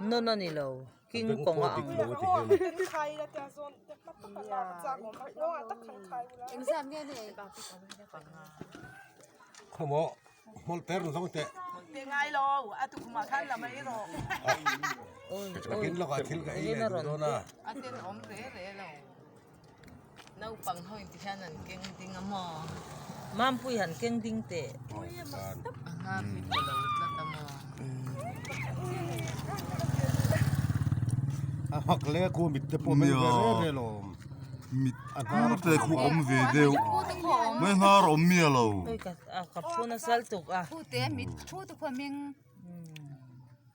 Nawn a ni lo, king kawng a ang lo. Naupang ho inti hian an keng ding a maw? Mampuii han keng ding teh. A hla fit ka lo tlat a maw? A hak le khu mit te pawh meng ve re re lo. Mit a hnar te khu awm ve deuh. Mai a hnar awm mi a lo. Ka phun a sal tuk a. Khute mit thu te khu a meng.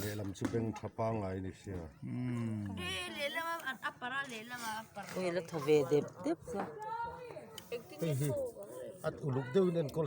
Lehlam chu bank tha pangai ni sia. Hei la tha ve dep dep chuan. Hei hi at uluk deuhin enkawl sawk.